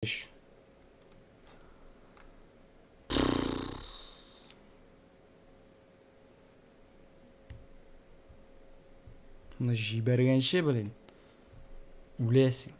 Эш. Ны җибәргәнче, блин. Үләсең.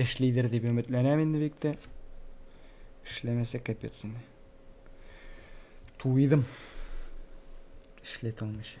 Эшлидер дип өметләнәм инде бик тә. Эшләмәсә капец инде. Туйдым. Эшләт алмыйча.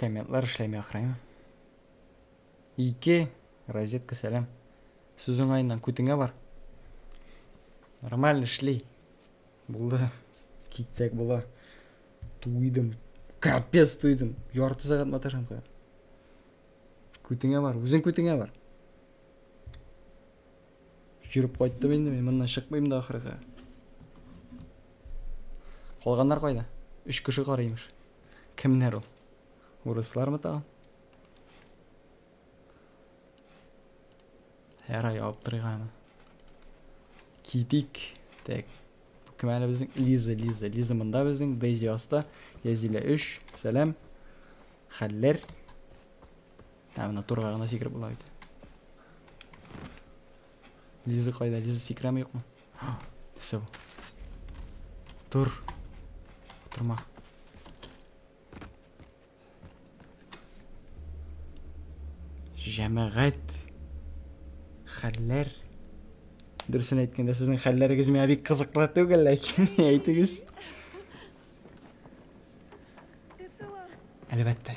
комментлар эшләми ахры ике розетка сәлам сүз уңаеннан күтеңә бар нормально эшли булды китсәк була туйдым капец туйдым ярты сәгать маташам кая күтеңә бар үзең күтеңә бар Жүріп кайттым инде мин, моннан чыкмыйм да ахырга. Калганнар кайда? Үч кеше кар имеш. Кемнәр ул? Урыслар мы тагын? Һәр ай алып торыйгамы? Китик. Так. Кем әле безнең? Лиза, Лиза. Лиза монда безнең. Дейзи аста. Язилә 3. Сәлам. Хәлләр. Ә менә турга гына сикереп була бит. Лиза кайда? Лиза сикерәме юкмы? Нәрсә бу? Тур. Утырма. Җәмәгать. Хәлләр. Дөресен әйткәндә, сезнең хәлләрегез миңа бик кызыклы түгел, ләкин әйтегез. Әлбәттә.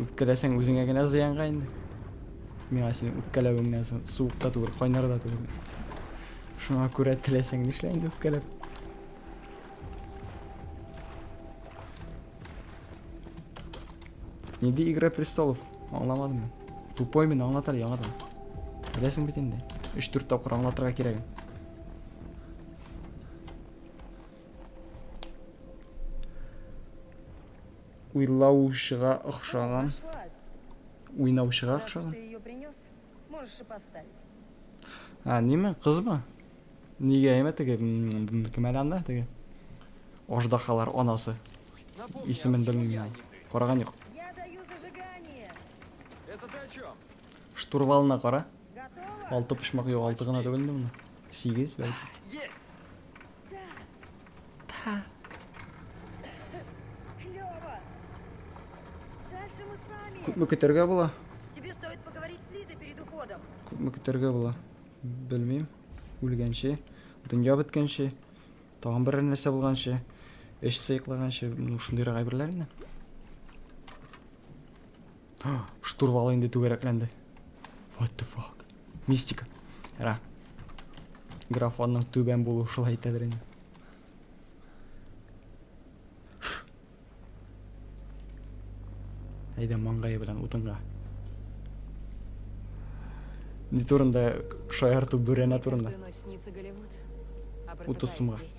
Үпкәләсәң үзеңә генә зыянга инде. Миңа синең үпкәләвеңнән соң суык та түгел, кайнар да түгел. Шуңа күрә теләсәң нишлә инде үпкәләп. Нинди Игра престолов? Аңламадым. Тупой мин аңлатар яңадан. Беләсең бит инде. 3-4 тапкыр аңлатырга кирәк. Уйлаучыга охшаган. Уйнаучыга охшаган. А, неме? Кызмы? Нигә әйме теге? Кем әле анда теге? Аждахалар анасы. Исемен белмим. Караган юк. Штурвалына кара. Алты почмак юк, алты гына түгелме моны? Сигез бәлки. Та. Күпме көтәргә була? Тебе стоит поговорить с Лизой перед уходом. Күпме көтәргә була? Белмим. Үлгәнче, дөнья беткәнче, тагын бер нәрсә булганчы, эш сыйклаганчы, ну шундыйрак әйберләр инде. Штурвалы инде түгәрәкләнде. What the fuck? Мистика. Ра. Графонның түбән булуы шулай итәдер инде. Әйдә маңгайы белән утынга. Не турында шаярту бүрәнә турында. Утыз сумга.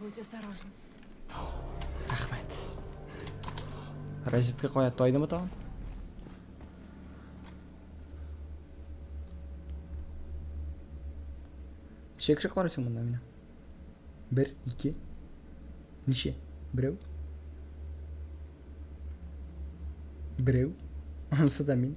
Будь осторожен. Рәхмәт. Розетка кая тайдымы тагын? Ничә кеше кара икән монда менә? Бер, ике. Ничә? Берәү? Берәү? Анысы да мин.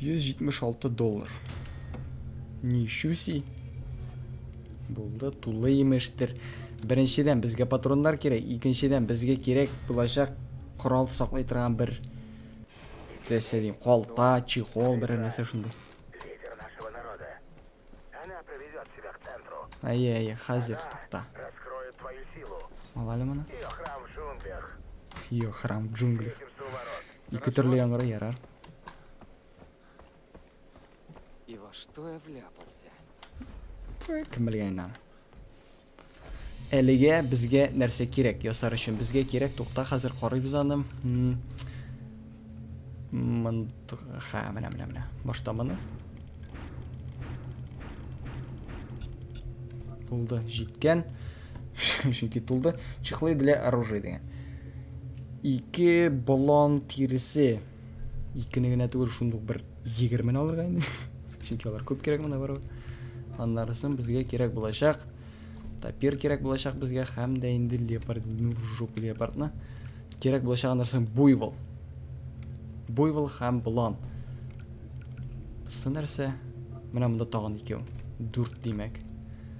176 доллар. Нищуси. Булды, тулы имештер. Беренчедән безгә патроннар кирәк, икенчедән безгә кирәк булачак корал саклый торган бер тәсе дим, калта, чехол, бер нәрсә шундый. Әйе, әйе, хәзер тукта. Алале моны. Ее храм в джунглях. Ике төрле яңгыр ярар. И во что я вляпался? Кем белгән инде. Әлегә безгә нәрсә кирәк ясар өчен? Безгә кирәк, тукта, хәзер карыйбыз аны. Ха, менә, менә, менә. Башта моны. Булды, җиткән. Чөнки тулды. Чехлы для оружия дигән. Ике балан тиресе. Икене генә түгел, шундук бер егермені алырга инде. Чөнки алар күп кирәк мына барыбер. Аннарысын безгә кирәк булачак. Тапир кирәк булачак безгә һәм дә инде леопард, ну, жоп леопардны. Кирәк булачак аннарысын буйвол. Буйвол һәм балан. Сынарса, менә монда тагын икәү. Дүрт димәк.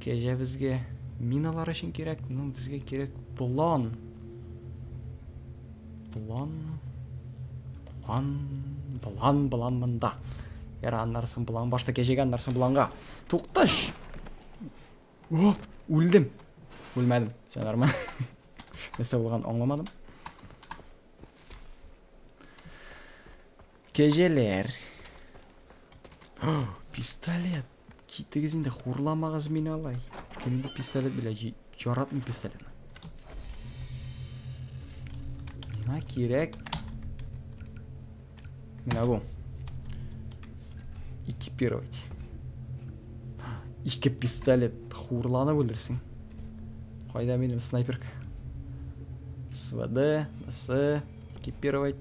Кәҗә безгә миналар өчен кирәк, ну безгә кирәк план. План. План, план, план монда. Яра аннарсын план башта кәҗәгә, аннарсын планга. Тукташ. О, үлдем. Үлмәдем. Все нормально. Нәрсә булган аңламадым. Кәҗәләр. пистолет. Китегез инде, хурламагыз мине алай. Кем бу пистолет белән яратмый пистолетны. Миңа кирәк. Менә бу. Экипировать. Ике пистолет хурланып үлерсең. Кайда минем снайперка? СВД, СС, экипировать.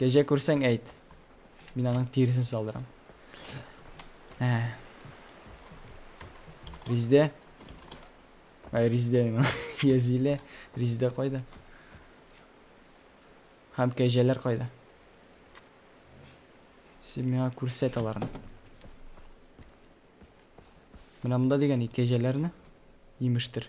Кәҗә күрсәң әйт. Мин аның тиресен салдырам. Ә. Риздә. Ай, Риздә мин. Язиле. Риздә кайда? Хәм кәҗәләр кайда? Син миңа күрсәт аларны. Менә монда дигән кәҗәләрне имештер.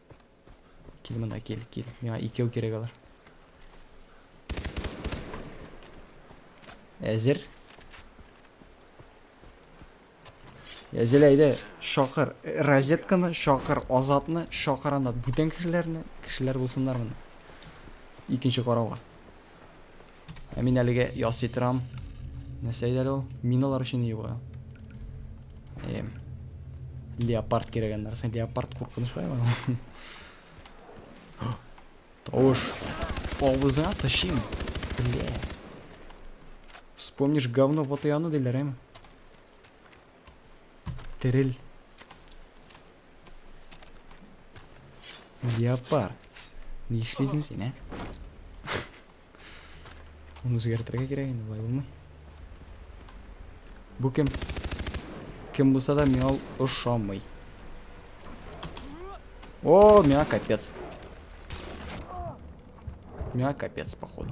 Кил монда, кил, кил. Миңа икәү кирәк алар. Әзер. Әзер әйдә, шакыр. Розетканы шакыр, азатны шакыр анда. Бүтән кешеләрне, кешеләр булсыннар монда. Икенче карауга. Ә мин әлегә ясый торам. Нәрсә иде әле ул? Миналар өчен ни була? Эм. Леопард кирәк әннәр. Сен леопард куркыныч бай ма? Тавыш. Авызыңа тышим. Бля. Вспомнишь говно вот и оно диләр, эм. Терел. Леопард. Ни эшлисең син, ә? Аны үзгәртергә кирәк инде, болай булмый. Бу кем? Кем булса да миңа ул ошамый. О, миңа капец. Миңа капец, походу.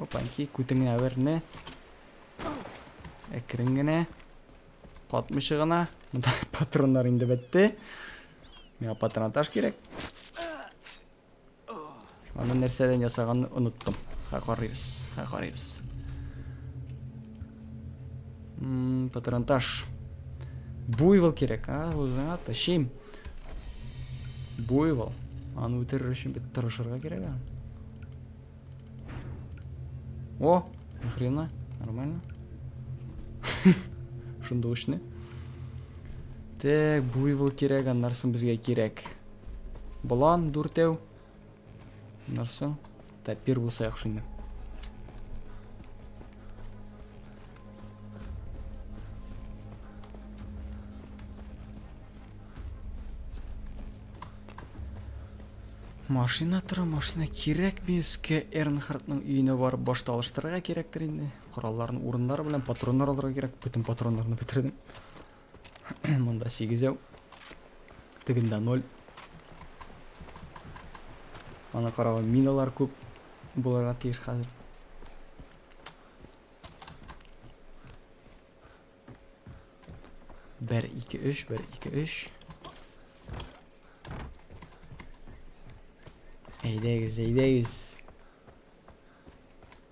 Опаньки, күтеңне әверне. Әкрен генә. Катмыйча гына. Монда патроннар инде бетте. Миңа патронатаж кирәк. Аны нәрсәдән ясаганны оныттым. Ха карыйбыз. Ха карыйбыз. Патронатаж. Буйвол кирәк, а? Үзеңә ташыйм. Буйвол. Аны үтерер өчен бит тырышырга кирәк әле. О, ни хрена? Нормально. Шунда учны. Так, буйвол кирәк, аннарсын безгә кирәк. Болан дүртәү. Нәрсә? Тәпир булса яхшы инде. Машина тора, машина кирәк мин искә Эрнхардның өенә барып башта алыштырырга кирәктер инде. Коралларны урыннары белән патроннар алырга кирәк. Бөтен патроннарны бетердем. Монда 8 яу. Тегендә 0. Ана карагы миналар күп булырга тиеш хәзер. Бер, ике, өч, бер, ике, өч. Әйдәгез, әйдәгез.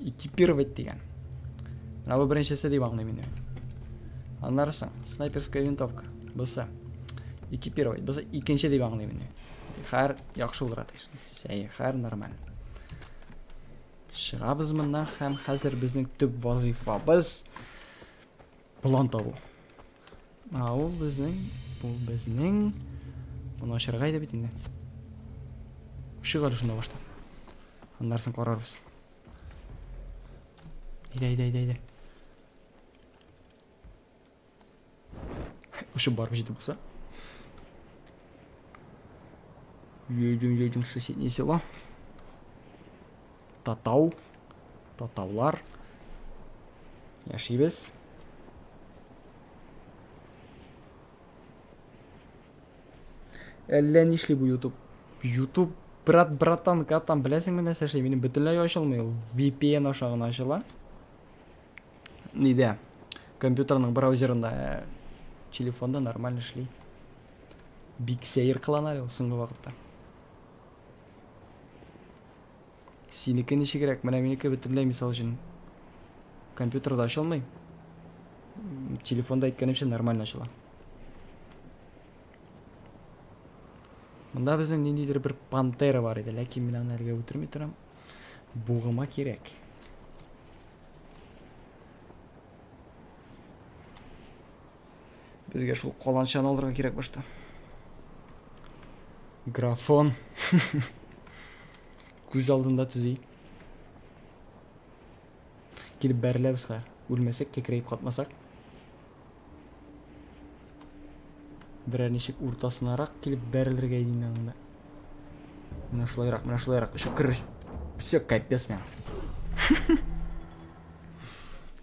Экипировать дигән. Менә бу беренчесе дип аңлыйм инде. Аннарысы снайперская винтовка. Бусы. Экипировать. Бусы икенче дип аңлыйм инде. Хәр яхшы булыр атыш. Сәй, хәр нормаль. Шыгабыз моннан һәм хәзер безнең төп вазифабыз. План табу. А ул безнең, бу безнең. Моны ачарга иде бит инде. Ишек әле шунда башта. Аннарсын карарбыз. Әйдә, әйдә, әйдә, әйдә. Ушып барып җитеп булса. Едем, едем в соседнее село. Татау, татаулар. Яшибез. Әллә нишли бу YouTube. YouTube брат братан катан беләсеңме нәрсә эшли? Минем бөтенләй ачылмый ул. VPN аша гына ачыла. Нидә? Компьютерның браузерында э, телефонда нормально эшли. Бик сәер кылана әле ул соңгы вакытта. Синеке ничегрәк? Менә минеке бөтенләй мисал өчен компьютерда ачылмый. Телефонда әйткәнемчә нормально ачыла. Монда безнең ниндидер бер пантера бар иде, ләкин мин аны әлегә үтерми торам. Бугыма кирәк. Безгә шул каланчаны алырга кирәк башта. Графон. Күз алдында төзи. Килеп бәреләбез хәзер. Үлмәсәк, кәкрәеп катмасак. Берәр ничек уртасынарак килеп бәрелергә иде инде анда. Менә шулайрак, менә шулайрак. Өшеп керер. Все, капец мен.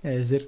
Әзер.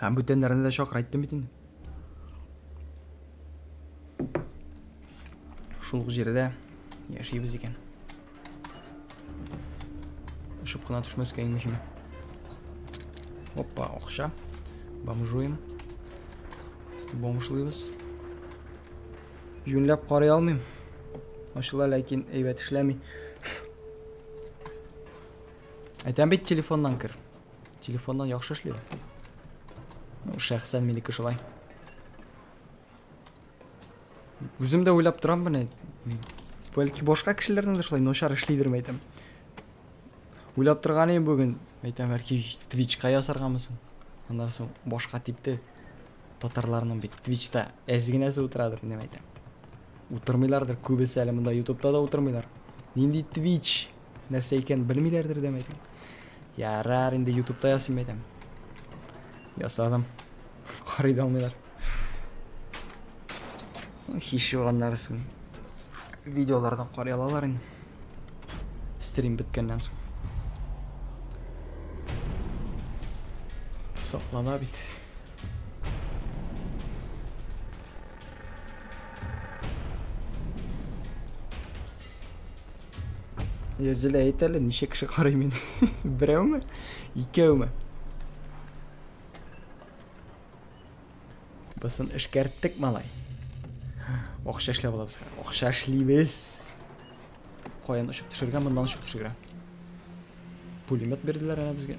Һәм бүтәннәрне дә чакыр әйттем бит инде. Шул ук җирдә яшибез икән. Очып кына төшмәскә иң мөһиме. Опа, акча. Бомжуем. Бомжлыйбыз. Юнләп карый алмыйм. Ачыла, ләкин әйбәт эшләми. Әйтәм бит телефоннан кер. Телефоннан яхшы эшли. Ну, шәхсән минеке шулай. Үзем дә уйлап торам менә. Бәлки башка кешеләрнең дә шулай начар эшлидер мәйтәм. Уйлап торган идем бүген. Мәйтәм, бәлки Twitch-ка ясаргамысын. Аннан соң башка типте. Татарларның бит Twitch-та әз генәсе утырадыр, дип әйтәм. Утырмыйлардыр, күбесе әле монда YouTube-та да утырмыйлар. Нинди Twitch? Нәрсә икән белмиләрдер дә мәйтәм. Ярар, инде ютубта ясыйм мәйтәм. Ясадым. Карый да алмыйлар. Хиш юганнарсын. Видеолардан карый алалар инде. Стрим беткәннән соң. Соклана бит. Зилә әйт әле, ничә кеше карый мине? Берәүме? Икәүме? Бысын эшкәрттек, малай. Акча эшләп алабыз. Акча эшлибез. Каян очып төшергә, моннан очып төшергә. Пулемет бирделәр әнә безгә.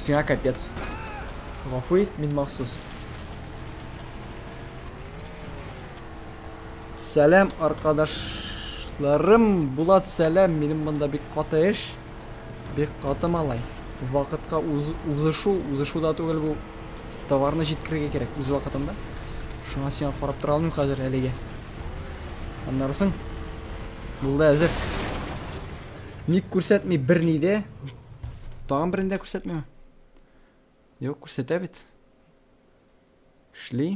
Сиңа капец. Гафу ит, мин махсус. Сәлам, аркадашларым. Булат, сәлам. Минем монда бик каты эш. Бик каты малай. Вакытка уз, узышу, узышу да түгел бу. Товарны җиткерергә кирәк үз вакытында. Шуңа сиңа карап тора алмыйм хәзер әлегә. Аннарсың. Булды әзер. Ник күрсәтми берни дә? Тагын берендә күрсәтмиме? Юк, күрсәтә бит. Эшли.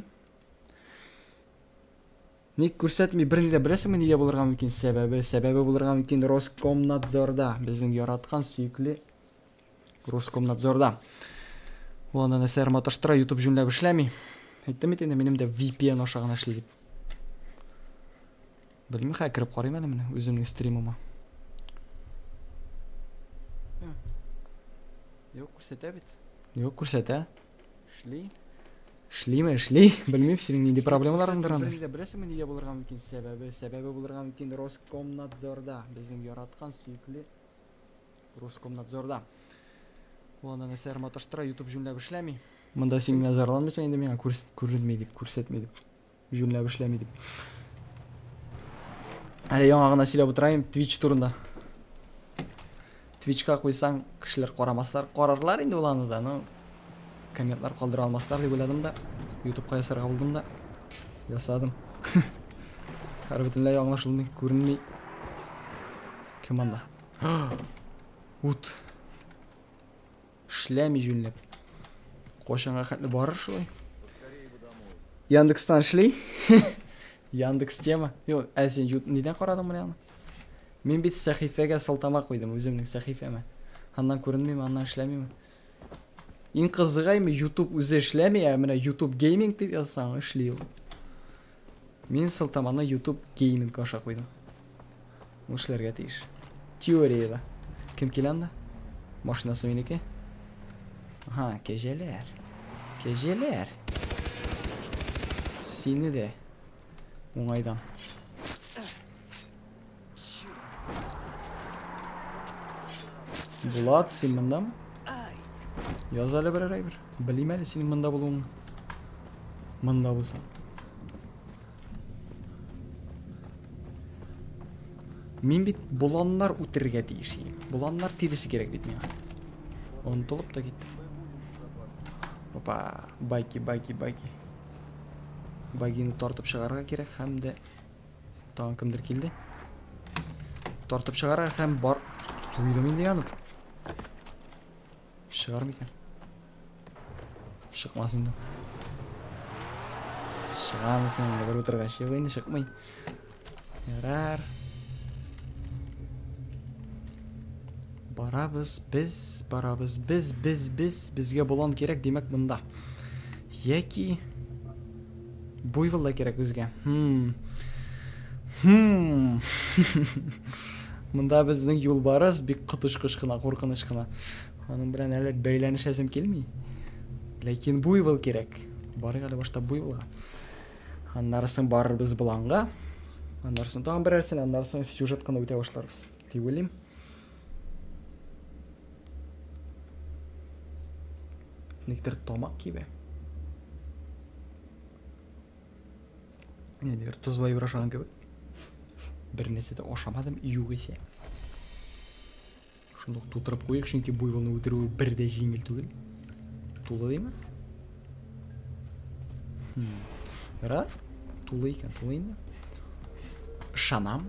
Ник күрсәтми берни дә беләсеңме нигә булырга мөмкин сәбәбе? Сәбәбе булырга мөмкин Роскомнадзорда безнең яраткан сөекле Роскомнадзорда. Ул аны нәрсәләр маташтыра, YouTube җүнләп эшләми. Әйттем бит инде, минем дә VPN аша гына эшли дип. Белмим, хәзер кереп карыйм әле менә үземнең стримыма. Юк, күрсәтә бит. Юк, күрсәтә. Эшли. Эшлиме, эшли. Белмим, синең нинди проблемаларыңдыр анда. Син беләсеңме, нигә булырга мөмкин сәбәбе? Сәбәбе булырга мөмкин Роскомнадзорда, безнең яраткан сөекле Роскомнадзорда. Ул аны нәрсәләр маташтыра, YouTube җүнләп эшләми. Монда син генә зарланмыйсың инде миңа күренми дип, күрсәтми дип. Җүнләп эшләми дип. Әле яңа гына сөйләп утырайым Twitch турында. Twitchка куйсаң, кешеләр карамаслар, карарлар инде ул аны да, но комментлар калдыра алмаслар дип уйладым да, YouTubeка ясарга булдым да, ясадым. Хәрбетенләй аңлашылмый, күренми. Кем анда? Ут. Эшләми җүнләп. Кайчанга хәтле барыр шулай? Яндекстан эшли. Яндекс тема. Юк, ә син нидән карадың менә аны? Мин бит сәхифәгә сылтама куйдым, үземнең сәхифәмә. Аннан күренмиме, аннан эшләмиме? Иң кызыгаймы, YouTube үзе эшләми, ә менә YouTube Gaming дип язсаң, эшли ул. Мин сылтаманы ютуб гейминг аша куйдым. Ул эшләргә тиеш. Теориядә. Кем килә анда? Машинасы минеке. Ага, кәҗәләр. Кәҗәләр. Сине дә. Уңайдан. Булат, син мындамы? Яз әле берәр әйбер. Белмим әле синең монда булуыңны. Монда булсаң. Мин бит боланнар үтерергә тиеш идем. Боланнар тиресе кирәк бит миңа. Онтылып та китте. Опа, байки, байки, байки. Багины тартып чыгарга кирәк һәм дә Тагын кемдер килде. Тартып чыгара һәм бар... Туйдым инде янып. Чыгар микән? Чыкмас инде. Чыгамысын инде бер утыргач. Юк инде чыкмый. Ярар. Барабыз, без, барабыз, без, без, без, безгә болан кирәк, димәк, монда. Яки... Буйвол да кирәк безгә. Хм. Хм. Монда безнең юлбарыс бик коточкыч кына, куркыныч кына. Аның белән әле бәйләнешәсем килми. Ләкин буйвол кирәк. Барыйк әле башта буйволга. Аннары соң барырбыз боланга. Аннары соң тагын берәрсен, аннары соң сюжет кына үтә башларбыз. дип уйлыйм. Никтер тамак кибә. Нидер тозлай башлаган кебек. Бер нәрсә дә ашамадым, югыйсә. Шуны тутырып куйыйк, чөнки буйволны үтерүе бер дә җиңел түгел. Тулы димме? Хм. Ярар. Тулы икән, тулы инде. Ышанам.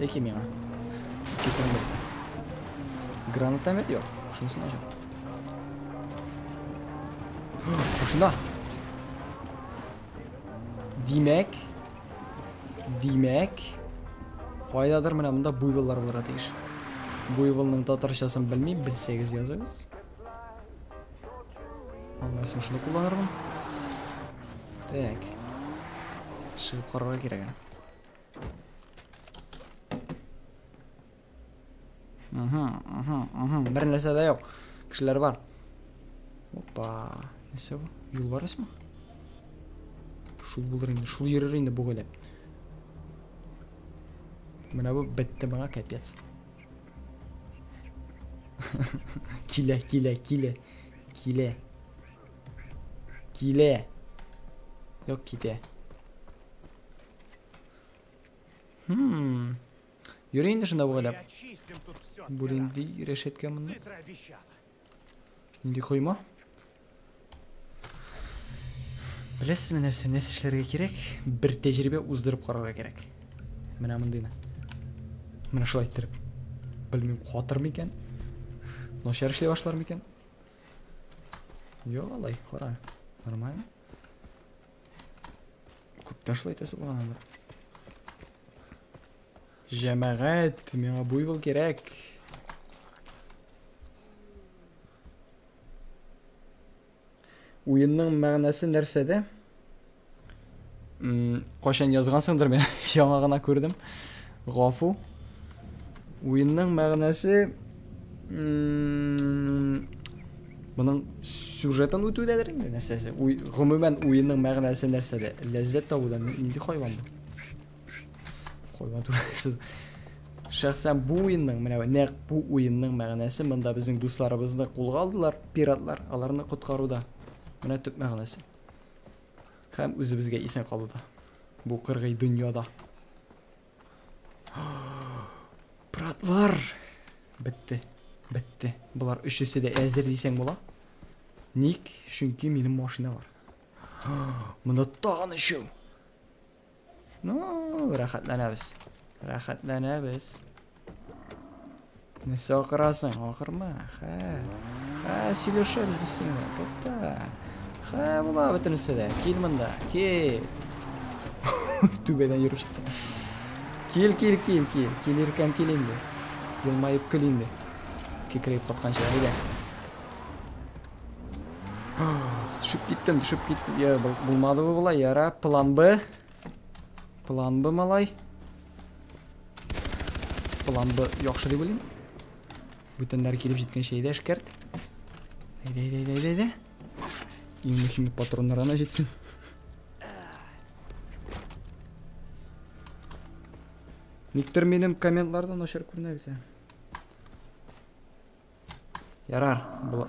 Яки миңа. Икесен берсе. Гранатомет юк. Шунысы начар. Машина. Димәк. Димәк. Кайдадыр менә монда буйволлар булырга тиеш. Буйволның татарчасын белмим, белсәгез языгыз. Аннарсын шуны кулланырмын. Так. Шыгып карарга кирәк. Угу, угу, угу. Бер нәрсә дә юк. Кешеләр бар. Опа. Нәрсә бу? Юл бар исме? Шул булыр инде. Шул йөрер инде бу гөләп. Менә бу бетте моңа капец. килә, килә, килә. Килә. Килә. Юк, китә. Хм. Йөри инде шунда бугайлап. Бу нинди рәшәткә монда? Нинди койма? Беләсезме нәрсә, нәрсә эшләргә кирәк? Бер тәҗрибә уздырып карарга кирәк. Менә мондыйны. Менә шулай иттереп. Белмим, катыр микән? Начар эшли башлар микән? Йо, алай, кара. Нормально. Күп ташлы итәсе булган алар. Җәмәгать, миңа буйвол кирәк. Уенның мәгънәсе нәрсәдә? Кайчан язгансыңдыр, мин яңа гына күрдем. Гафу. Уенның мәгънәсе моның сюжетын үтүдәдер инде нәрсәсе. Гомумән уенның мәгънәсе нәрсәдә? Ләззәт табуда нинди хайван бу? Хайван түгел. Шәхсән бу уенның, менә нәкъ бу уенның мәгънәсе монда безнең дусларыбызны кулга алдылар, пиратлар, аларны коткаруда. Менә төп мәгънәсе. Һәм үзебезгә исән калуда. Бу кыргый дөньяда. Братлар! Бетте. Бетте. Болар өчесе дә әзер дисәң була. Ник? Чөнки минем машина бар. Монда тагын өчәү. Ну, рәхәтләнәбез. Рәхәтләнәбез. Нәрсә акырасың? Акырма. Хә. Хә, сөйләшәбез без сиңа. Тукта. Хә, була бөтенесе дә. Кил монда. Кил. Түбәдән йөреп чыкты. Кил, кил, кил, кил. Кил иркәм, кил инде. Елмаеп көл инде. Кикрәеп катканча, әйдә. Төшеп киттем, төшеп киттем. Я, булмады бу була. Яра, план Б. План Б, малай. План Б яхшы дип уйлыйм. Бүтәннәр килеп җиткәнчә әйдә эшкәрт. Әйдә, әйдә, әйдә, әйдә, әйдә. Иң мөһиме патроннар гына җитсен. Никтер минем комментлардан начар күренә бит. Ярар, була.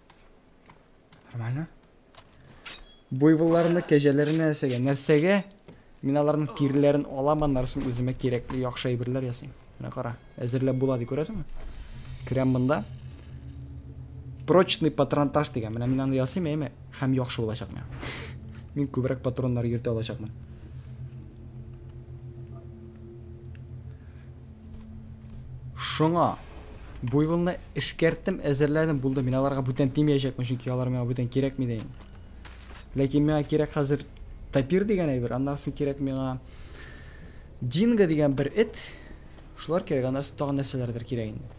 Нормально? Буйволларны, кәҗәләрне нәрсәгә? Нәрсәгә? Мин аларның тирләрен алам, аннарсын үземә кирәкле яхшы әйберләр ясыйм. Менә кара, әзерләп була ди, күрәсеңме? Керәм монда. Прочный патронтаж дигән. Менә мин аны ясыйм, әйме? Хәм яхшы булачак миңа. Мин күбрәк патроннар йөртә алачакмын. Шуңа буйволны эшкәрттем, әзерләдем, булды. Мин аларга бүтән тимәячәкмен, чөнки алар миңа бүтән кирәкми дә инде. Ләкин миңа кирәк хәзер тапир дигән әйбер, аннан соң кирәк миңа динго дигән бер эт. Шулар кирәк, аннан соң тагын нәрсәләрдер кирәк инде.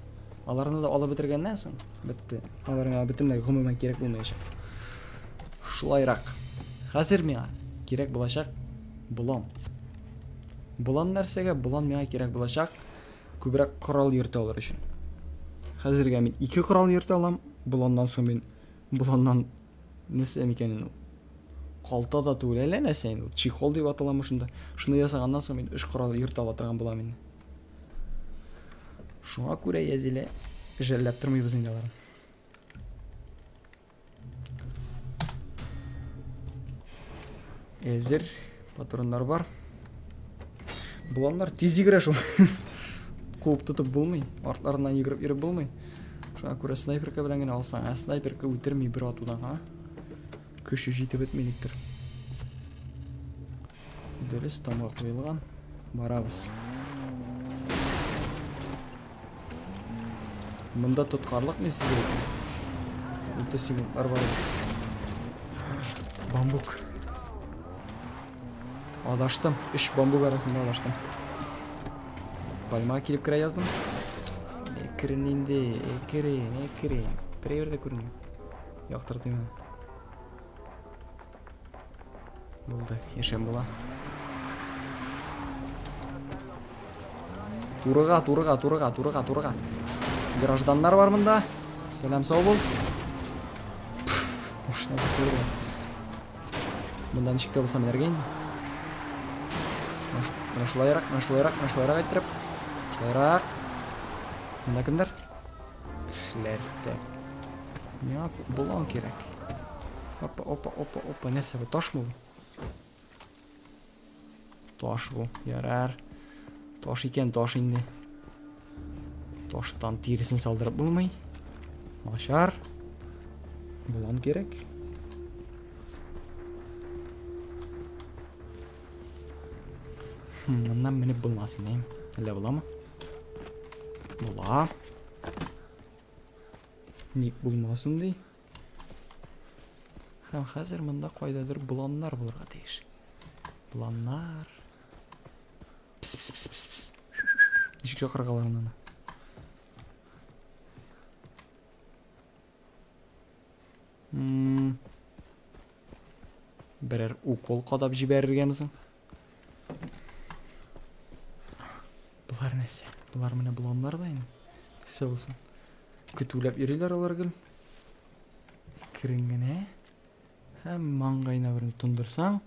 Аларны да алып бетергәннән соң, бетте. Алар миңа бөтенләй гомумән кирәк булмаячак. Шулайрак. Хәзер миңа кирәк булачак болан. Болан нәрсәгә? Болан миңа кирәк булачак күбрәк корал йөртә алыр өчен. Хәзергә мин ике корал йөртә алам. Боланнан соң мин боланнан нәрсә микән инде? Калта да түгел, әллә нәрсә инде. Чехол дип аталамы шунда? Шуны ясаганнан соң мин өч корал йөртә ала торган булам инде. Шуңа күрә Язилә жәлләп тормыйбыз инде аларны. Әзер патроннар бар. Боланнар тиз йөгерә шул. Куып тотып булмый, артларыннан йөгереп йөреп булмый. Шуңа күрә снайперка белән генә алсаң, ә снайперка үтерми бер атудан, а? Көче җитеп бетмилектер. Дөрес тамга куелган. Барабыз. Монда тоткарлык не сезгә? Утыз секундлар бар. Бамбук. Адаштым. Үш бамбук арасында адаштым. Пальма килеп керә яздым. Экрин инде, экрин, экрин. Берәйбер дә күрмим. Яктыртыйм. Булды, яшәп була. Турыга, турыга, турыга, турыга, турыга. Гражданнар бар монда. Сәлам сау бул. Машина турыга. Монда ничек тә булса менәргә инде. Менә шулайрак, менә шулайрак, менә шулайрак әйттереп. Шулайрак. Монда кемдер? Эшләргә. Миңа блон кирәк. Опа, опа, опа, опа. Нәрсә бу? Ташмы бу? Таш бу. Ярар. Таш икән, таш инде. Таштан тиресен салдырып булмый. Начар. Блон кирәк. Хм, моннан менеп булмасын, әйм. Әллә буламы? Була. Ник булмасын ди. Һәм хәзер монда кайдадыр боланнар булырга тиеш. Боланнар. Пс пс пс пс пс. Ничек чакырга алар монда? Берәр укол кадап җибәрергәме соң? Болар нәрсә? Болар менә блоннар да инде. Нәрсә булсын? Көтүләп йөриләр алар гел. Керен генә. Һәм маңгайына берне тондырсаң,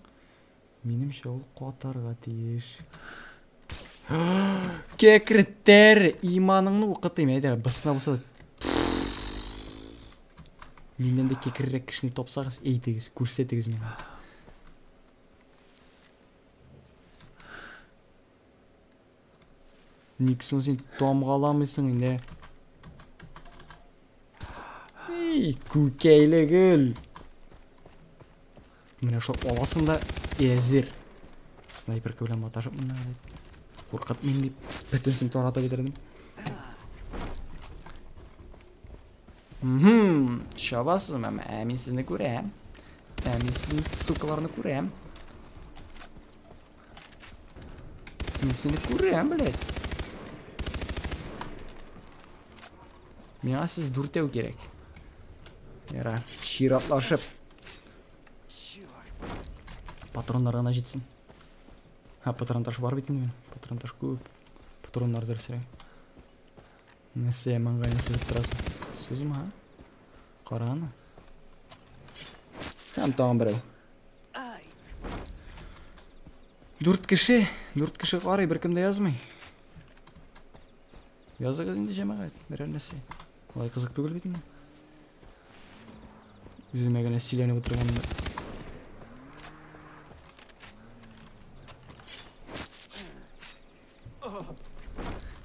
минемчә ул катарга тиеш. Кәкреттер! Иманыңны укытыйм, әйдә, бысына булса Миннән дә кекеррәк кешене тапсагыз, әйтегез, күрсәтегез миңа. Никсен син тамгаламыйсың инде. Эй, күкәйле гөл. Менә шул аласын да әзер. Снайперка белән маташып менә дип. Куркытмыйм дип, бөтенсен таратып бетердем. Мхм, чабасызмы? Ә мин сезне күрәм. Ә мин сезне сукаларны күрәм. Мин сине күрәм, блядь. Миңа сез дүртәү кирәк. Яра, чиратлашып. Патроннар гына җитсен. Ха, патрон таш бар бит инде. Патрон таш күп. Патроннар дөресрәк. Нәрсә маңгайны сызып торасың? Сузма, ха? Караны. Һәм тагын берәү. Дүрт кеше, дүрт кеше карый, беркем дә язмый. Языгыз инде җәмәгать, берәр нәрсә. Алай кызык түгел бит инде. Үземә генә сөйләнеп утырганда.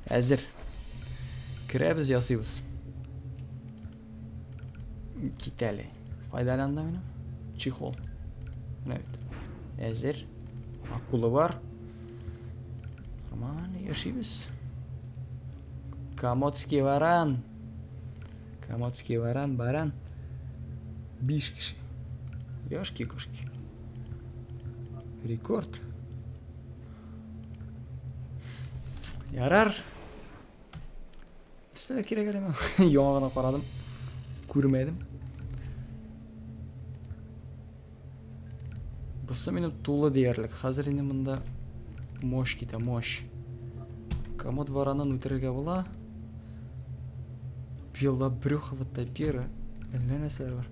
Әзер. Керәбез, ясыйбыз. Кит әле. Кайда әле анда Чехол. Менә бит. Әзер. Акула бар. Нормально яшибез. Комодский варан. Комодский варан, баран. Биш кеше. Ёшки-кошки. Рекорд. Ярар. Нәрсәләр кирәк әле миңа? Яңа гына карадым. Күрмәдем. Бусы минем тулы диярлек. Хәзер инде монда мощь китә, мощь. Комод варанын үтерергә була. Белобрюховатая пера. Әллә нәрсәләр бар.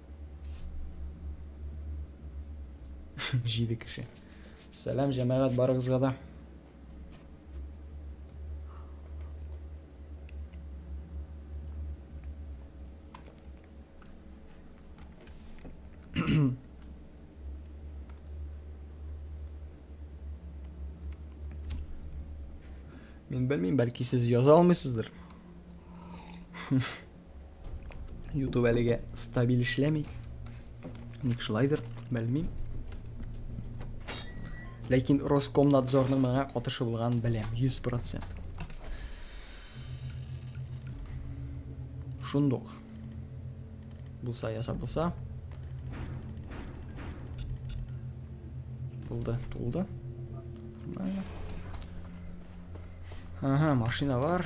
Җиде кеше. Сәлам, җәмәгать барыгызга да. Мин белмим, бәлки сез яза алмыйсыздыр. Ютуб әлегә стабиль эшләми. Ник шулайдыр, белмим. Ләкин Роскомнадзорның моңа катышы булган беләм, 100%. Шундук. Булса ясап булса. Тулды, тулды. Нормально. Ага, машина бар.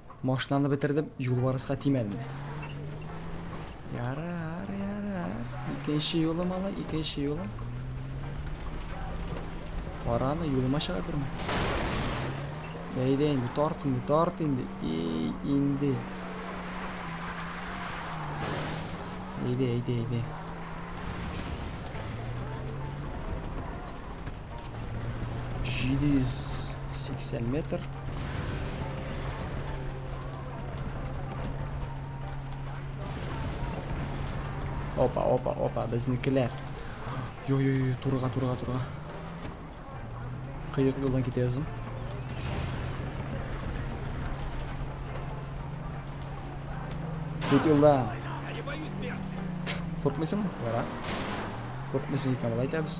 Машинаны бетердем, юлбарыска тимәдем. Ярар, ярар. Икенче юлы мала, икенче юлы. Караны юлыма чыга күрмә. Бәйдә инде, тарт инде, тарт инде. И, инде. Әйдә, әйдә, әйдә. 780 метр. Опа, опа, опа, безнекеләр. Йо-йо-йо, турыга, турыга, турыга. Кыек юлдан китәбез. Кит юлдан. Куркмыйсың? Бара. Куркмыйсың икән, болай итәбез.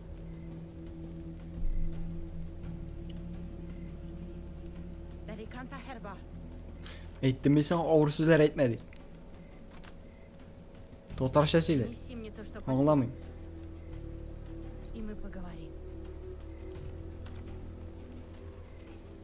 Әйттем мин сиңа авыр сүзләр әйтмә ди. Татарча сөйлә. Аңламыйм.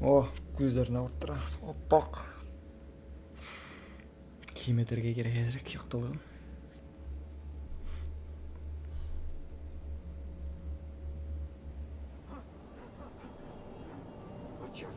О, күзләрен авырттыра. Аппак. Киметергә кирәк әзрәк яктылыгын. Почему?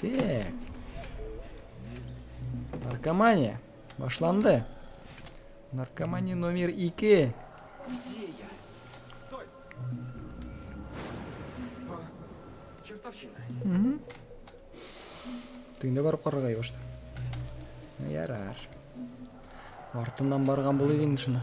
Так. Наркомания. Башланды. Наркомания номер 2. Угу. Ты не барып карарга юшты. Ярар. Артыннан барган булыйк инде шуны.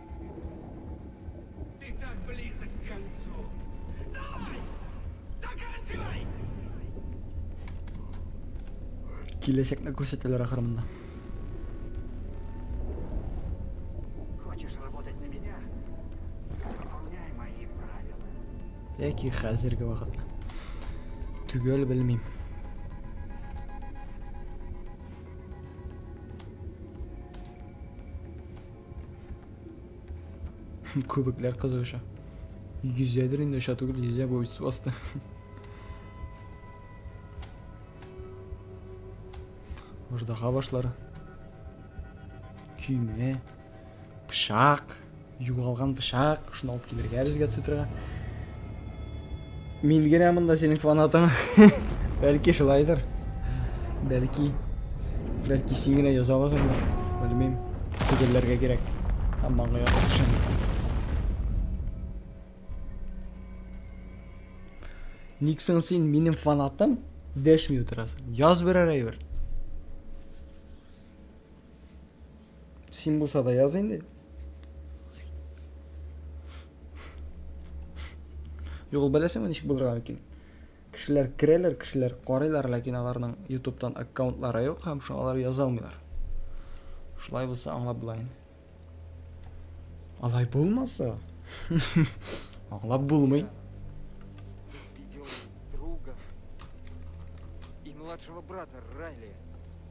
Киләчәкне күрсәтәләр ахырында. Яки хәзерге вакытта. Төгәл белмим. Күбекләр кызык оча. Йөзәдер инде оча түгел, йөзә бу су асты. Аждаһа башлары. Көймә. Пышак. Югалган пышак. Шуны алып килергә безгә цитрага. Мин генә монда синең фанатың. Бәлки шулайдыр. Бәлки. Бәлки син генә яза аласыңдыр. Белмим. Төгәлләргә кирәк. Һәм маңгай ачышын. Никсон син минем фанатым. Дәшми утырасың. Яз берәр әйбер. Син булса да яз инде. Юк, ул беләсеңме ничек булырга мөмкин? Кешеләр керәләр, кешеләр карыйлар, ләкин аларның YouTube-тан аккаунтлары юк һәм шуңа алар яза алмыйлар. Шулай булса аңлап була инде. Алай булмаса, аңлап булмый. Друга и младшего брата Райли.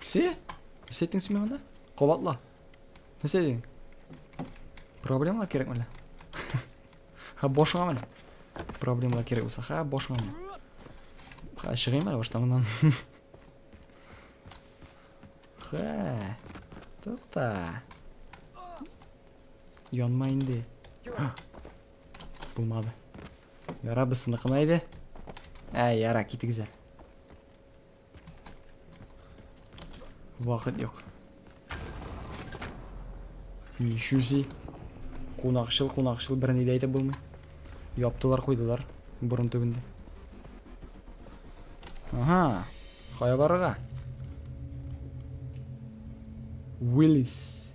Все? Нәрсә әйттең син миңа Кабатла. Нәрсә әйттең? Проблемалар кирәкме әллә? Ха башыңа менә. Проблемалар кирәк булса, ха башыңа менә. Ха чыгыйм әле баштан моннан. Ха. Тукта. Янма инде. Булмады. Яра бысыныкына иде. Ә, яра, китегез әле. Вакыт юк. Ничүзи. Кунакчыл, кунакчыл берни дә әйтеп булмый. Яптылар, куйдылар бурын төбендә. Ага. Кая барырга? Уиллис.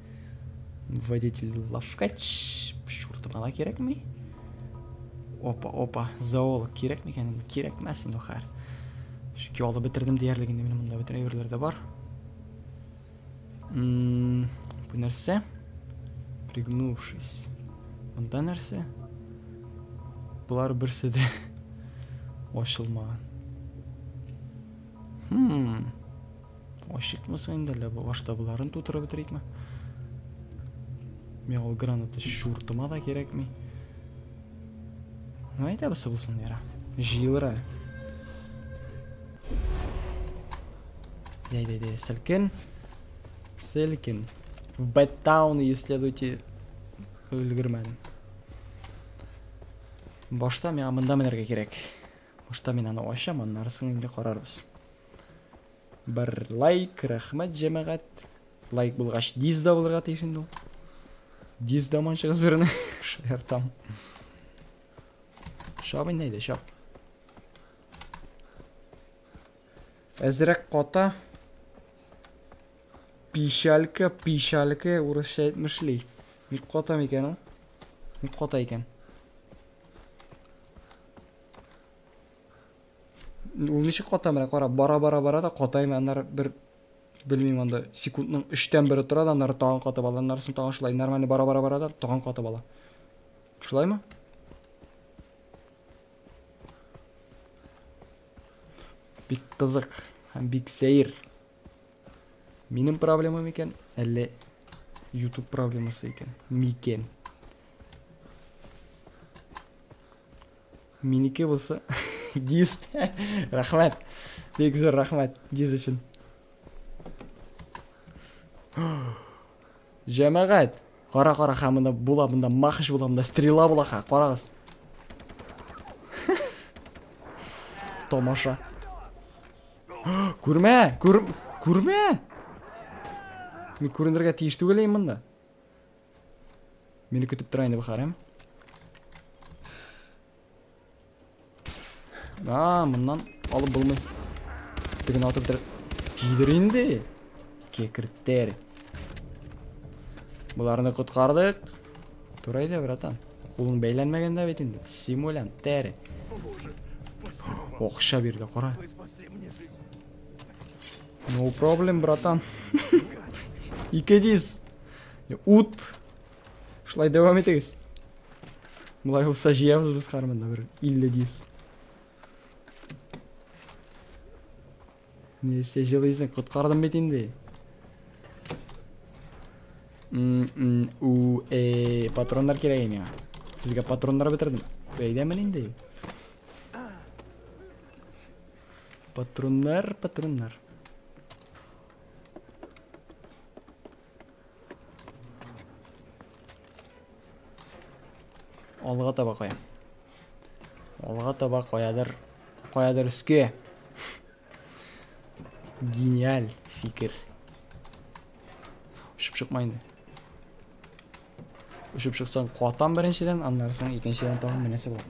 Водитель лавкач. Шурта бала кирәкми. Опа, опа. Зоолог кирәк микән? Кирәкмәс инде хәр. Чөнки алып бетердем диярлек инде минем монда бөтен әйберләр дә бар. Ммм, бу нәрсә? Пригнувшись. Монда нәрсә? Болар берсе дә ачылмаган. Хм. Ачыкмаса инде әллә баштабыларын тутырып бетерикме? Миңа ул граната чуртыма да кирәкми. Ну, әйтәбез булсын, яра. Җыелыр әле. Әйдә, әйдә, селкен. Селкен. В Бэттауны исследуйте өлгермәдем. Башта миңа мында менәргә кирәк. Башта мин аны ачам, аннары соң инде карарбыз. Бер лайк, рәхмәт, җәмәгать. Лайк булгач, диз да булырга тиеш инде ул. Диз да манчыгыз берне. Шаяртам. Шап инде әйдә, шап. Әзрәк ката. Пишалька, пишалька, урысча әйтмешли. Ник ката микән ул? Ник ката икән? Ул ничек ката менә кара, бара бара бара да катаймы, аннары бер белмим анда секундның өчтән бере тора да аннары тагын катып ала, аннарысын тагын шулай нормально бара бара бара да тагын катып ала. Шулаймы? Бик кызык һәм бик сәер. Минем проблемам икән, әллә YouTube проблемасы икән? Микән? Минеке булса, диз. Рәхмәт. Бик зур рәхмәт диз өчен. Җәмәгать, кара кара ха монда була, монда махыш була, монда стрела була ха, карагыз. Томаша. Күрмә, күр, күрмә. Мин күренергә тиеш түгел мында. Мине көтеп тора инде бу хәрәм. А, моннан алып булмый. Теген атып бер тидер инде. Кекертер. Боларны коткардык. Тура иде, братан. Кулың бәйләнмәгән дә бит инде. Симулян, тәр. Окша бирде, кара. No problem, братан. Ике дис. Ут! Шулай дәвам итегез. Болай булса җыябыз без кармында бер 50 дис. Нәрсә җылыйсың? Коткардым бит инде. У, э, патроннар кирәк миңа. Сезгә патроннар бетердем. Бәйләмен инде. Патроннар, патроннар. Алга таба кая. Алга таба каядыр. Каядыр өскә. Гениаль фикер. Шып шыпмайды. Очып чыксаң куатам беренчедән, аннары соң икенчедән тагын менәсе бар.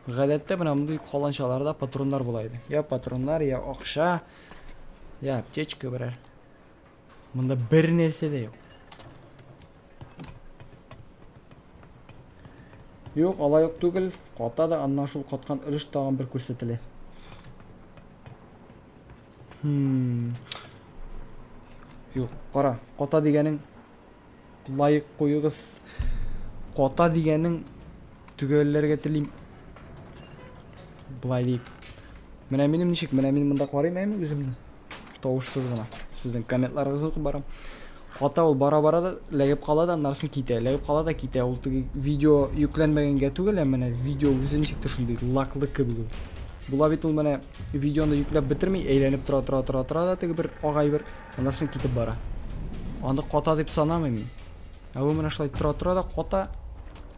Гадәттә менә мондый каланчаларда патроннар була иде. Я патроннар, я акча, я аптечка берәр. Монда бер нәрсә дә юк. Юк, алай ук түгел. Ката да аннан шул каткан өлеш тагын бер күрсәтелә. Хм. Юк, кара, ката дигәнең лайк куюгыз. Ката дигәнең төгәлләргә телим. Былай дип. Менә минем ничек? Менә мин монда карыйм әме үземне? Тавышсыз гына сезнең комментларыгызны укып барам. Ката ул бара-бара да ләгеп кала да аннарсын китә. Ләгеп кала да китә. Ул теге видео йөкләнмәгәнгә түгел, ә менә видео үзе ничектер шундый лаклы кебек ул. Була бит ул менә видеоны йөкләп бетерми, әйләнеп тора тора тора тора да теге бер агай бер аннарсын китеп бара. Аны ката дип санамыйм мин. Ә ул менә шулай тора тора да ката,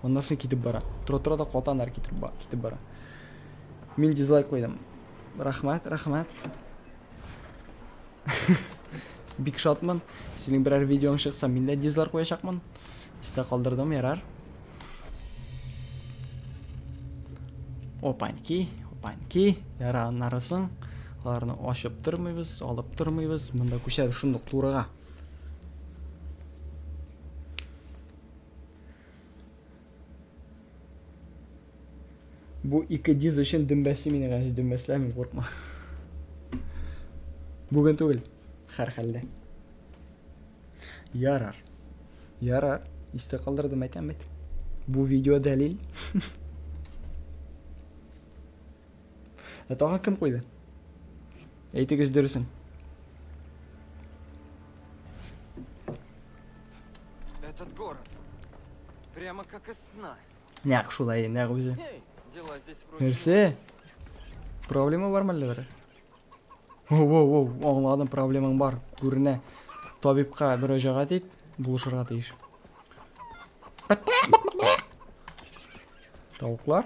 аннарсын китеп бара. Тора тора да ката аннары китеп бара. Мин дизлайк куйдым. Рәхмәт, рәхмәт. Бик шатмын. Синең берәр видеоң чыкса, мин дә дизлар куячакмын. Истә калдырдым, ярар. Опаньки, опаньки, яра аннарысын. Аларны ашып тормыйбыз, алып тормыйбыз. Монда күчәбез шундук турыга. Бу ике диз өчен дөмбәсе мине гази дөмбәсләр мин куркма. Бүген түгел, хәр хәлдә. Ярар. Ярар. Истә калдырдым әйтәм бит. Бу видео дәлил. Ә тагы кем куйды? Әйтегез дөресен. Этот город. Прямо как из сна. Нәк шулай, нәк үзе. Нәрсе? Проблема бар мәллә бер? Воу, воу, воу, аңладым, проблемаң бар. Күренә. Табибка мөрәҗәгать ит, булышырга тиеш. Тавыклар?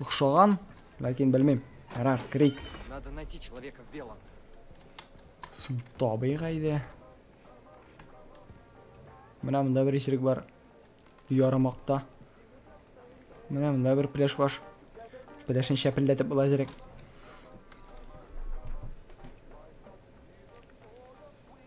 Охшаган, ләкин белмим. Ярар, керик. Надо найти человека в белом. Соң табыйк әйдә. Менә монда бер исерек бар. Ярымакта. Менә монда бер пляж бар. Пляжны шәпелдәтеп була зирек.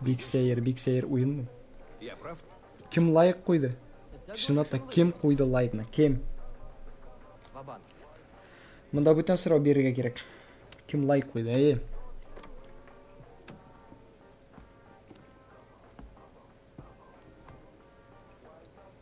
Бик сәер, бик сәер уен. Кем лайк куйды? Чынлап та кем куйды лайкны? Кем? Монда бүтән сорау бирергә кирәк. Кем лайк куйды? Әйе.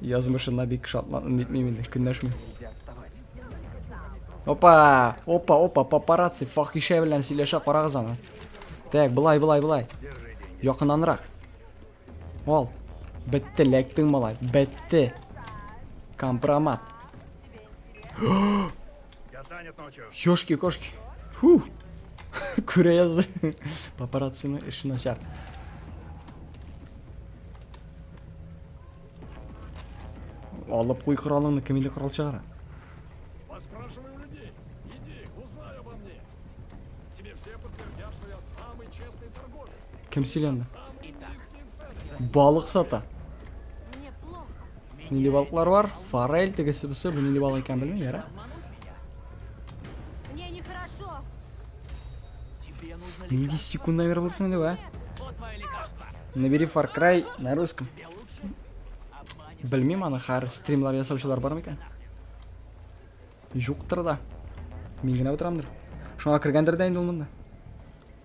Язмышына бик шатландым дитмим инде, көнләшмим. Опа! Опа, опа, папарацци, фахишә белән сөйләшә карагыз аны. Так, былай, былай, былай. Якынанрак. Ал. Бетте, ләктең малай. Бетте. Компромат. Ёшки кошки. Фу. Күрә язды. Папараццины эше начар. Алып куй коралыңны, кем инде корал чыгара? Кем сөйләнде? Балык сата. Нинди балыклар бар? Форель, тегесе бусы, бу нинди балык икән белмим, яра. Мне нехорошо. Нинди секунд номер булсын инде, а? Набери Far Cry на русском. Белмим аны, хәр стримлар ясаучылар бар микән? Юктыр да. Мин генә утырамдыр. Шуңа кергәндер дә инде ул монда.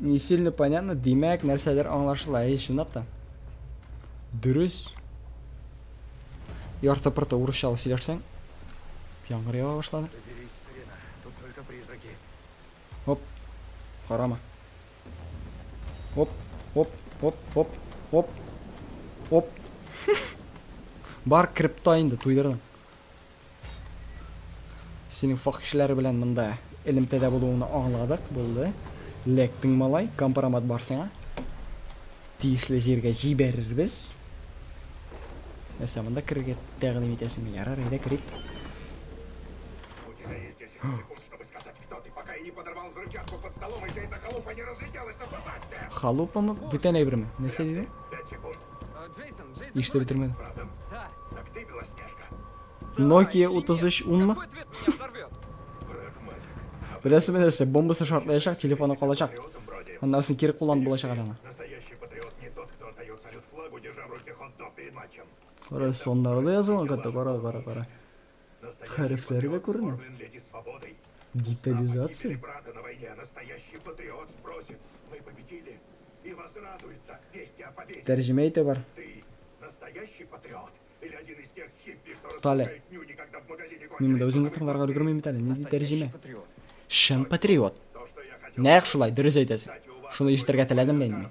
Не сильно понятно, димәк, нәрсәдер аңлашыла, әй, чынлап та. Дөрес. Ярты пырты урысчалы сөйләшсәң. Яңгыр ява башлады. Оп. Карама. Оп, оп, оп, оп, оп. Оп. Бар крипто инде туйдырдым. Синең фах кешеләре белән монда элемтәдә булуыңны аңладык, булды. Лектең малай, компромат бар сиңа. Тиешле җиргә җибәрербез. Нәрсә, монда керергә тәкъдим итәсеңме? Ярар, әйдә керик. Халупамы? Бүтән әйберме? Нәрсә диде? Иште бетермәдем. Nokia 33 унмы? Беләсезме нәрсә? Бомбасы шартлаячак, телефоны калачак. Аннарсын кире кулланып булачак әле аны. Кара, соннары да язылган, кара, кара, кара. Хәрефләре дә күренә. Детализация. Тәрҗемә итә бар. Туктале. Мин монда үземне тыңларга өлгермим бит әле. Нинди тәрҗемә? Чын патриот. Нәкъ шулай, дөрес әйтәсең. Шуны ишетергә теләдем дә инде.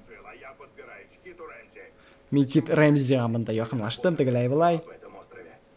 Микит Рэмзига монда якынлаштым, тегеләй былай.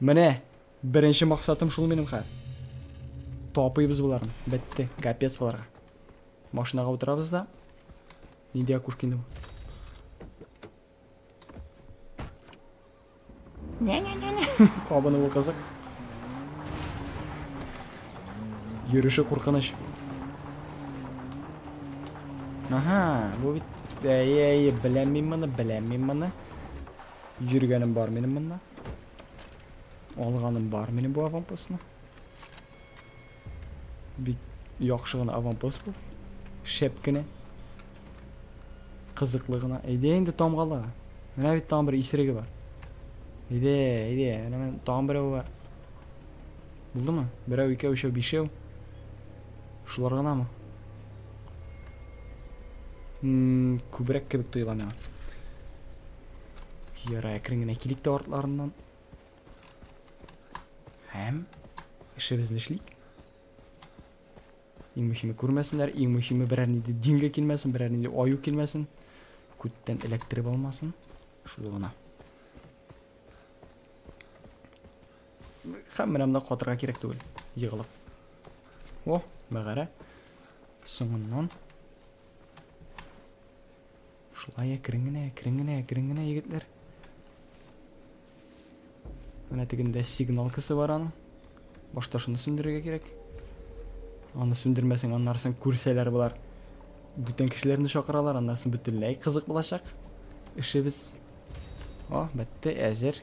Менә беренче максатым шул минем хәер. Тапыйбыз боларны. Бетте. Капец боларга. Машинага утырабыз да. Нинди окушка инде бу? Нә-нә-нә-нә. Кабыны бу кызык. Йөреше куркыныч. Ага, бу бит әй-әй, беләм мин моны, беләм мин моны. Йөргәнем бар минем монда. Алганым бар минем бу аванпостны. Бик яхшы гына аванпост бу. Шәп кенә. Кызыклы гына. Әйдә инде тамгала. Менә бит тагын бер исереге бар. Әйдә, әйдә. Менә тагын берәү бар. Булдымы? Берәү, икәү, өчәү, бишәү. Шулар гынамы? Күбрәк кебек тоела миңа. Ярай, әкрен генә килик тә артларыннан. Һәм эшебезне эшлик. Иң мөһиме күрмәсеннәр, иң мөһиме берәр нинди дингә килмәсен, берәр нинди аю килмәсен. Күттән эләктереп алмасын. Шул гына. Һәм менә монда катырга кирәк түгел. Егылып. О, мәгарә. Соңыннан. Шулай әкрен генә, әкрен генә, әкрен генә, егетләр. Менә тегендә сигналкасы бар аның. Башта шуны сүндерергә кирәк. Аны сүндермәсәң, аннарсын күрсәләр болар. Бүтән кешеләрне чакыралар, аннарсын бөтенләй кызык булачак. Эшебез. О, бетте, әзер.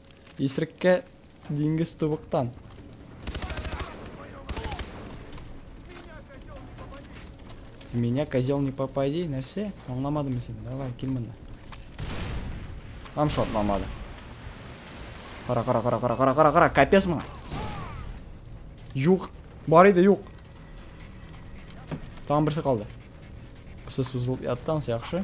Исреккә диңгез тубыктан. Меня козел не попади, нәрсә? Аңламадым син. Давай, кил монда. Ам шотламады. Кара, кара, кара, кара, кара, кара, кара, капец моңа. Юк, бар иде, юк. Там берсе калды. Кысы сузылып яттан, яхшы.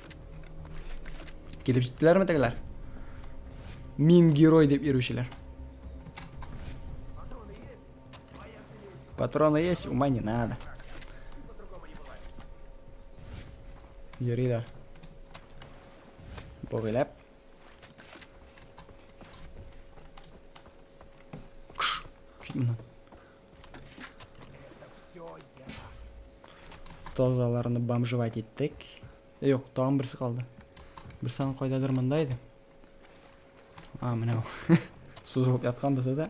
Килеп җиттеләрме тегеләр? Мин герой дип йөрүчеләр. Патроны есть, ума не надо. Йөриләр. Богылап. Кш. Кит моннан. Тазаларны бомжевать иттек. Юк, тагын берсе калды. Бер сан кайдадыр монда иде. А, менә ул. Сузылып яткан бездә дә.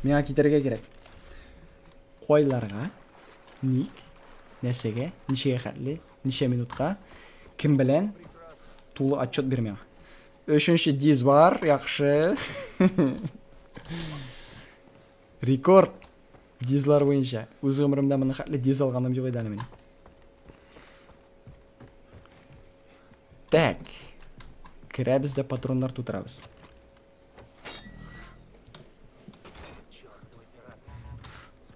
Миңа китәргә кирәк. Кайларга? Ник? Нәрсәгә? Ничәгә хәтле? Ничә минутка? Кем белән? Тулы отчет бир миңа. Өченче диз бар, яхшы. Рекорд! Дизлар буенча. Үз гомеремдә моны хәтле диз алганым юк иде әле минем. Так. Керәбез дә патроннар тутырабыз.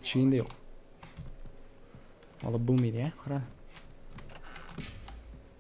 Чейн дә юк. Алып булмый, я? Кара.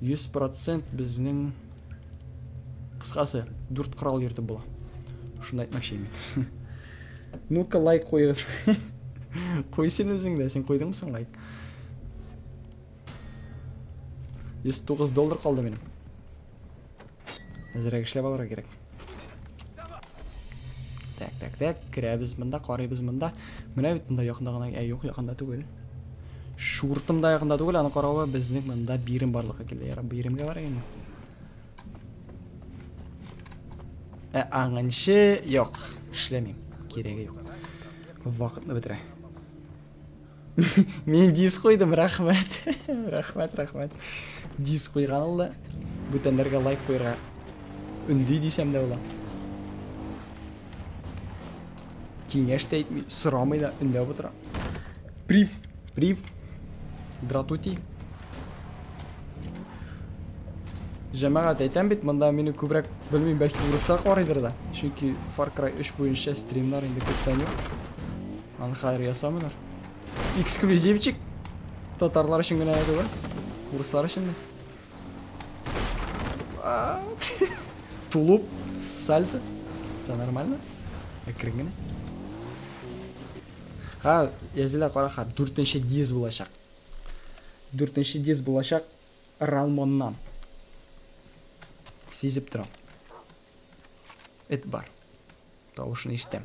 100 процент безнең кыскасы дүрт корал йөртеп була шуны әйтмәкче инде ну ка лайк куегыз куй син үзең дә син куйдыңмы соң лайк 109 доллар калды минем Әзерәк эшләп алырга кирәк. Так, так, так, керәбез монда, карыйбыз монда. Менә бит монда якында гына, ә юк, якында түгел. Шуртым да якында түгел, аны каравы безнең монда бирем барлыкка килде. Яра, биремгә бар инде. Ә аңынчы юк, эшләмим. Кирәге юк. Вакытны бетерә. Мин диск куйдым, рәхмәт. Рәхмәт, рәхмәт. Диск куйган ул да. Бүтәннәргә лайк куйырга. Өнди дисәм дә була. Киңәш тә әйтми, сорамый да, өндәп утыра. Прив, прив. Дратути. Җәмәгать әйтәм бит, монда мине күбрәк белмим, бәлки урыслар карыйдыр да. Чөнки Far Cry 3 буенча стримнар инде күптән юк. Аны хәзер ясамыйлар. Эксклюзивчик. Татарлар өчен генә түгел. Урыслар өчен дә. Тулуп, сальто. Все нормально? Әкрен генә. Ха, язила караха, дүртенче диз булачак. Дүртенче диз булачак Ралмоннан. Сизеп торам. Эт бар. Тавышын ишетәм.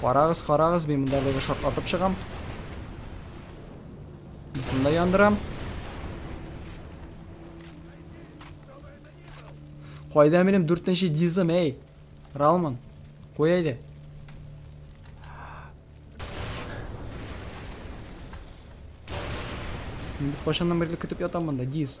Карагыз, карагыз, мин монда бер шот атып чыгам. Мисында яндырам. Кайда минем 4-нче дизым, эй? Ралман, кой әйдә. Мин бит кашаннан берле көтеп ятам монда, диз.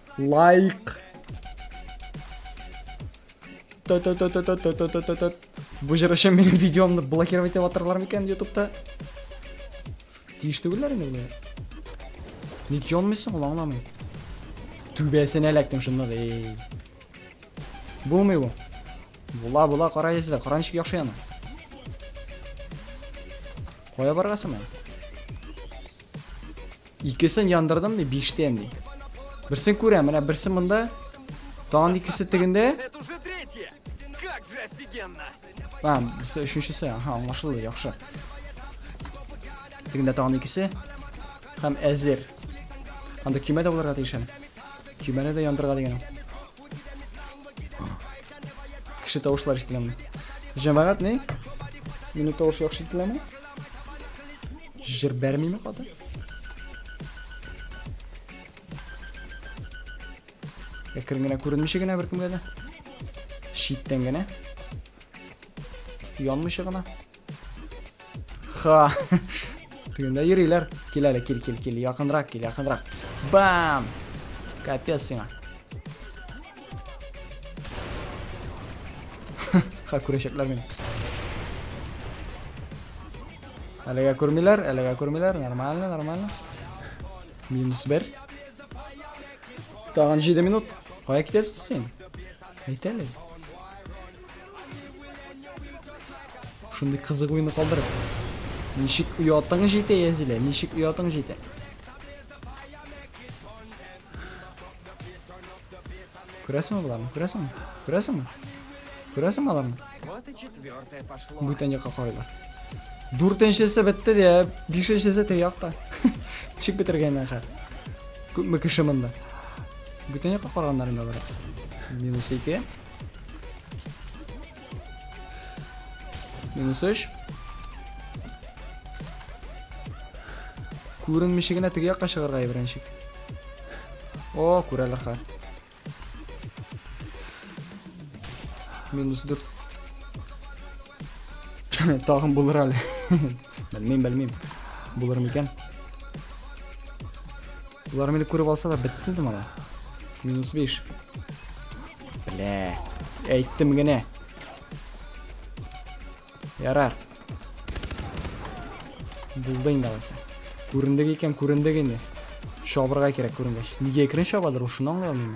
Лайк. Бу җыр өчен минем видеомны блокировать итеп атырлар микән ютубта? Тиеш түгелләр инде менә. Ник янмыйсың ул аңламыйм. Түбәсенә эләктем шунда да. Булмый бу. Була була кара язда, кара ничек яхшы яна. Кая баргасың менә? Икесен яндырдым ди, биштен ди. Берсен күрәм, менә берсе монда. Тагын икесе тегендә. Это уже третье. Как же офигенно. А, берсе өченчесе. Ага, аңлашылды, яхшы. Тегендә тагын икесе. Һәм әзер. Анда көймә дә булырга тиеш әле. Көймәне дә яндырырга дигән. Кеше тавышлар ишетеләме? Җәмәгать ни? Минут тавышы яхшы ишетеләме? Җыр бәрмиме кадәр? Әкрен генә күренмичә генә беркемгә дә. Читтән генә. Янмыйча гына. Ха. Тегендә йөриләр. Кил әле, кил, кил, кил. Якынрак кил, якынрак. Бам! Капец сиңа. Ха, күрәчәкләр мин. Әлегә күрмиләр, әлегә күрмиләр. Нормально, нормально. Минус бер. Тагын 7 минут. Кая китәсең син? Әйтәле. Шундый кызык уйны калдырып. Ничек оятың җитә, Язилә? Ничек оятың җитә? Күрәсеңме боларны? Күрәсеңме? Күрәсеңме? Күрәсеңме аларны? Бүтән якка карыйлар. Дүртенчесе бетте дә, бишенчесе теге якта. Чик бетергәннән хәл. Күпме кеше монда? Бүтән якка караганнар инде алар. Минус 2. Минус 3. Күренмичә генә теге якка чыгарга ибрәнчик. О, күрәләр хәл. Минус 4. Тагын булыр әле. Белмим, белмим. Булыр микән? Булар мине күреп алса да бетте инде моны. Минус 5. Бля. Әйттем генә. Ярар. Булды инде аласы. Күрендек икән, күрендек инде. Шабырга кирәк күренгәч. Нигә икрен шабадыр, ул шуны аңлый алмыйм.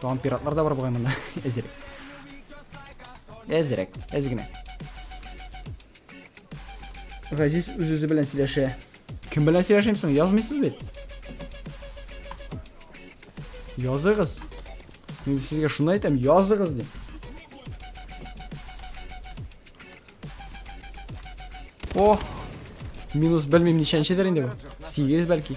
Тагын пиратлар да бар бугай монда. Әзерәк. Әзерәк, әз генә. Газиз үз-үзе белән сөйләшә. Кем белән сөйләшим соң? Язмыйсыз бит. Языгыз. Мин сезгә шуны әйтәм, языгыз дип. О! Минус белмим ничәнчедер инде бу. 8 бәлки.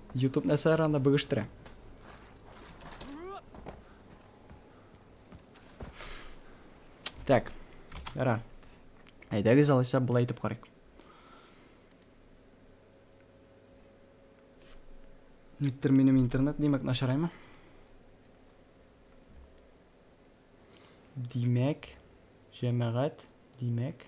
Ютуб нәрсәләр анда бөгештерә? Так, ра. Әйдәгез алайса болай итеп карыйк. Никтер минем интернет димәк начараймы? Димәк, җәмәгать, димәк.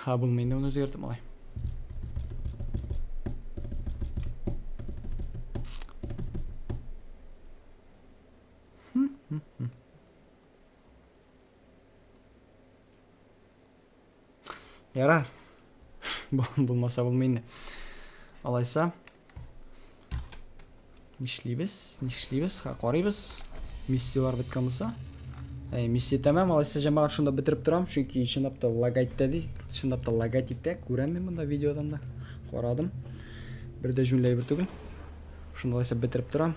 Ха, булмый инде моны үзгәртеп малай. Ярар. Булмаса булмый инде. Алайса. Нишлибез? Нишлибез? Карыйбыз. Миссияләр беткән булса. Әй, миссия тәмам, алайса җәмәгать шунда бетереп торам, чөнки чынлап та лагать та ди, чынлап та лагать итә, күрәм мин монда видеодан да. Карадым. Бер дә җүнләй бер түгел. Шунда алайса бетереп торам.